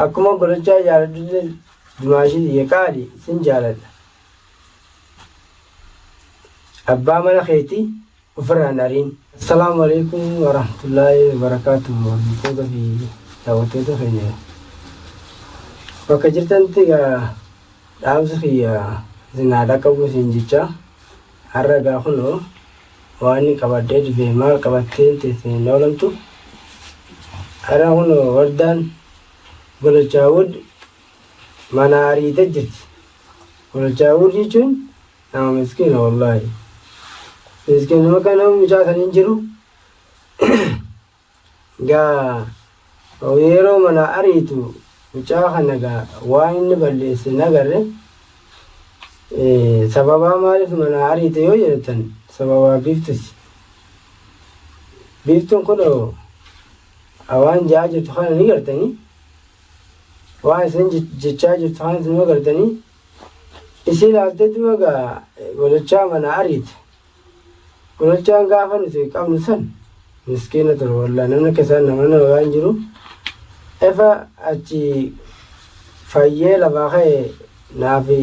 Akkuma golochaa jaaladhutti dumaashii ye qaali sin jaaladha. Abbaa mana keeti ofirraa hin ariin. Assalaamu Aleeykum Warahmatullaahi Wabarakaatuh Hordoftoota fi daawwattoota keenya bakka jirtanitti egaa dhaamsi kiyya isin haa dhaqqabu isin jecha har'a egaa kunoo Waani qabadhee dhufee maal qabattee teessee hin oolamtu Ara kunoo wardaan Golochaawud manaa ariite jirti Golochaawud jechuun nama miskiina wallaahi miskiinuma kana mucaa san hin jiru Gaa o yeeroo manaa ariitu mucaa kana gaa waan inni balleesse hin agarre sababaa maaliif manaa ariite yoo jedhatan sababaa biiftuti biiftun kuno waan jaa jirtu kana ni gartanii waan isin jechaa jirtu kana isin gartanii isii laaltee duuba gaa walachaa manaa ariite Kunachaan gaafa nuti qabnu san miskiina ture wallaa namni akka isaan nama nama waan jiru efa achi fayyee lafaa ka'e naafi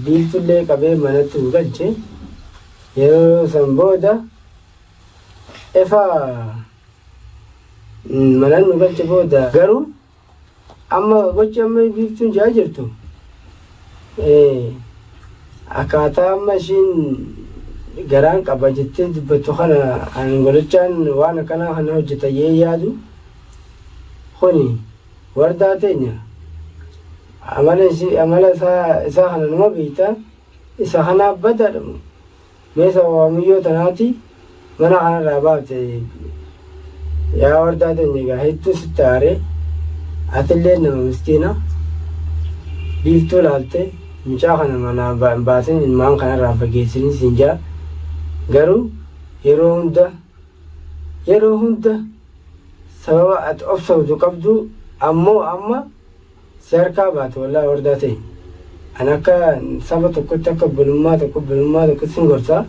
biiltullee qabee manatti nu galche yeroo san booda efa manan nu galche booda garuu Amma gochi amma biiftuun jaa jirtu akkaataa amma ishiin garaan qaba jettee dubbattu kana angolochaan waan akkanaa kana hojjeta jee yaadu kuni wardaa teenya amala isaa kana nama beekta isa kanaa badaadha Mee sababaa muyyoo tanaati mana kanarraa baafte yaa wardaa teenya egaa hedduu sitti aaree atilleen nama miskiina biiftuu laalte mucaa kana manaa ba- hin baasin ilmaan kanarraa fageessini siin jaa garuu yeroo hunda yeroo hunda sababa ati obsawdu qabdu ammoo amma Si harkaa baatu wallahi wardaa tee Ani akka saba tokkotti akka obbolummaa tokko obbolummaa tokkotti sin gorsa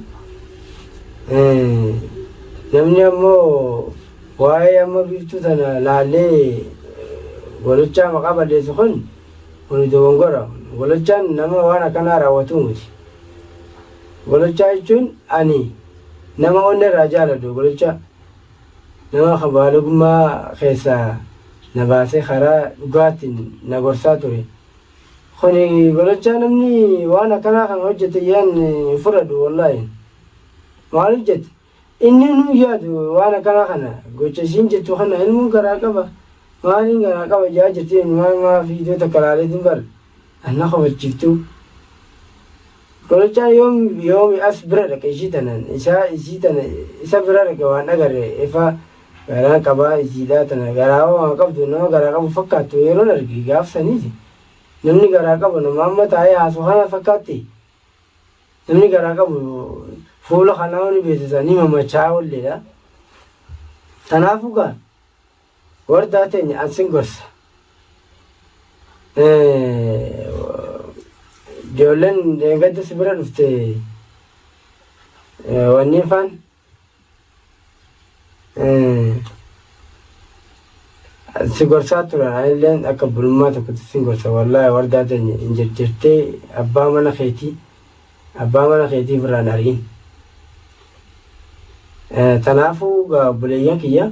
namni ammoo waa'ee amma biiftuu tana laallee golochaa maqaa balleessu kun kuni dogongora golochaan nama waan akkanaa raawwatuu miti golochaa jechuun ani nama onne irraa jaaladhu golochaa Nama ka baalogummaa keessaa na baasee karaa dhugaatiin na gorsaa ture. Kuni golochaa namni waan akkanaa kana hojjate yaan hin fudhadhu wollaahi. Maaliif jette inni nuu yaadu waan akkanaa kana gocha isiin jettu kana ilmoon garaa qaba maaliin garaa qaba ja'aa jirti maal maa viidiyoo takka laaleetiin bar. Anna kofalchiftu Mucaa yoom yoomi as bira dhaqe ishii tanaan isaa isii tana isa bira dhaqe waan dhagarre efa garaan qabaa isiidhaa tana garaa waan qabdu nama garaa qabu fakkaattu yeroon arge gaaf saniiti namni garaa qabu nama amma taa'ee haasu kana fakkaatti namni garaa qabu fuula kanaa ni beeksisa ni mamachaa olleedha tanaafu gaa Wardaa teenya an sin gorsa. Ijoolleen dheengadda si bira dhufte wanni faan si gorsaa turan anilleen akka bulummaa tokkotti sin gorsa wallaahi wardaa teenya hin jajjattee abbaa mana keetii abbaa mana keetiif irraan ari'in. Tanaafuu gaa obboleeyyan kiyya.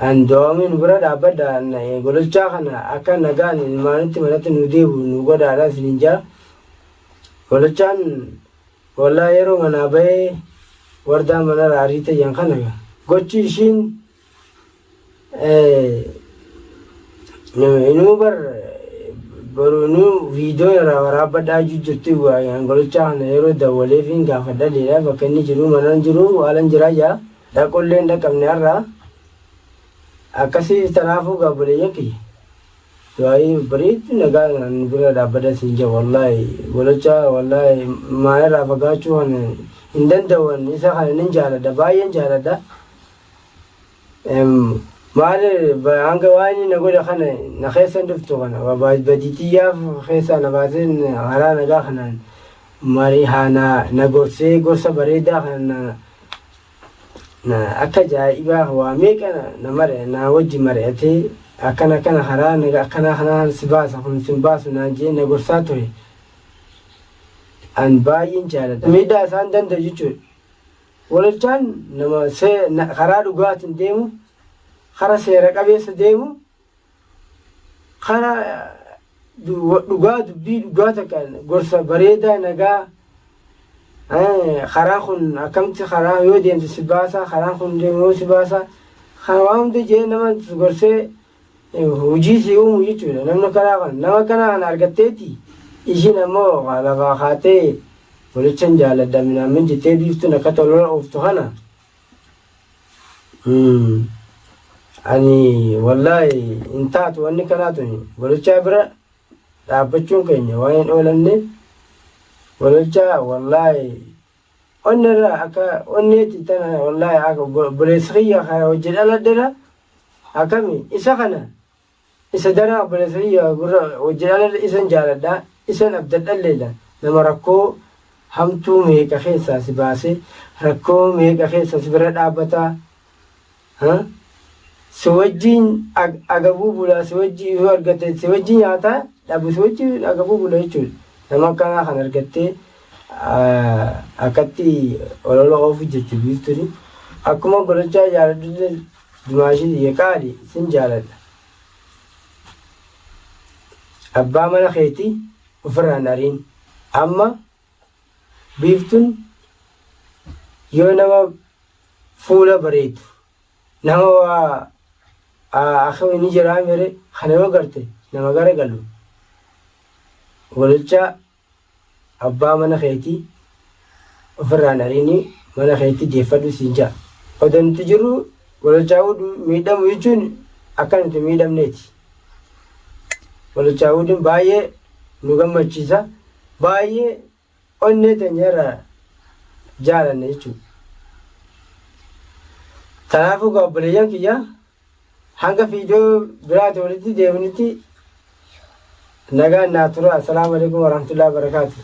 An doomi nu bira dhaabbadha an gololchaa kana akka nagaan ilmaanitti manatti nu deebi'u nu godhaadha isiniin jaa gololchaan wallaa yeroo manaa bahee wardaa manara ariite jan kana gochi ishiin inuu bar boru inuu viidiyoo irraa waraabbadhaa juu jirti an gololchaa kana yeroo dawwaleefiin gaafadhaleedha bakka inni jiru manaan jiru waalan jiraa jaa Dhaquullee hin dhaqqabne har'a. Akkasii tanaafuu gaa obboleeyyan kiyya. Du'aayii bareeddu nagaa nu bira dhaabbadha siin jedha wallaahi golocha wallaahi maa irraa fagaachuu kan hin danda'an isa kana nin jaaladha baay'een jaaladha. Maali hanga waa inni na godhe kana na keessa hin dhuftu kana badii tiyyaaf keessaa na baasee karaa nagaa kanaan marii haa na gorsee gorsa bareedaa kana na akka jaa'ibaa waa meeqa na mari'a naa wajji mari'atee akkana akkana karaa naga akkanaa kanaan si baasa kun sin baasu naan jee na gorsaa ture an baay'een jaaladha miidhaa isaan danda'u jechuudha walolchaan nama see na- karaa dhugaatiin deemu kara seera qabeessa deemu Kana dhugaa dubbii dhugaa takkaan gorsa bareedaa nagaa karaa kun akkamti karaa yoo deemte si baasaa karaan kun deemu yoo si baasaa kana waan hunda jee nama gorsee hojii si uumu jechuudha namni kanaa kan nama kanaa kan argatteeti ishiin ammoo lafaa kaatee walichan jaalladha minaamin jettee biiftuun akka tolola ooftu kana Ani wallaahi hin taatu wanni kanaa tuni gololchaa bira dhaabbachuun keenya waan hin oolanneef gololchaa wallaahi onni irraa akka onneeti tana wallaahi akka obboleessi kiyya hojii dhaladhera akkami isa kana Isa daran obboleessa kiyya warra hojjedhaalallee isan jaaladha, isan abdadhalleedha. Nama rakkoo hamtuu meeqa keessaa si baasee, rakkoo meeqa keessa si bira dhaabbataa, ha? si wajjin agabuu bulaa, si wajjin yoo argatte si wajjin nyaataa dhabu si wajjin agabuu bula jechuudha. Nama akkanaa kan argattee akkatti olola oofu jirti biiftuni. Akkuma golochaa jaaladhullee Dumaashii tiyya qaali sin jaaladha. Abbaa mana keeti ofirraa hin ariin. Amma biiftun yoo nama fuula bareedu nama waa akka inni jiraa mere kana yoo garte nama gara galu gololchaa Abbaa mana keetii ofirraa hin ariini mana keetti deeffadhu siin ja'a. Odo nuti jirru walochaawudu miidhamu jechuun akka nuti hin miidhamneeti. Walochaawudun baay'ee nu gammachiisa baay'ee onnee teenya irraa jaalanna jechuudha. Kanaafuu gaa obboleeyyan kiyya Hanga viidiyoo biraati walitti deebinutti nagaan naa tura. Assalaamu alaikum warahmatullahi wabarakaatuh.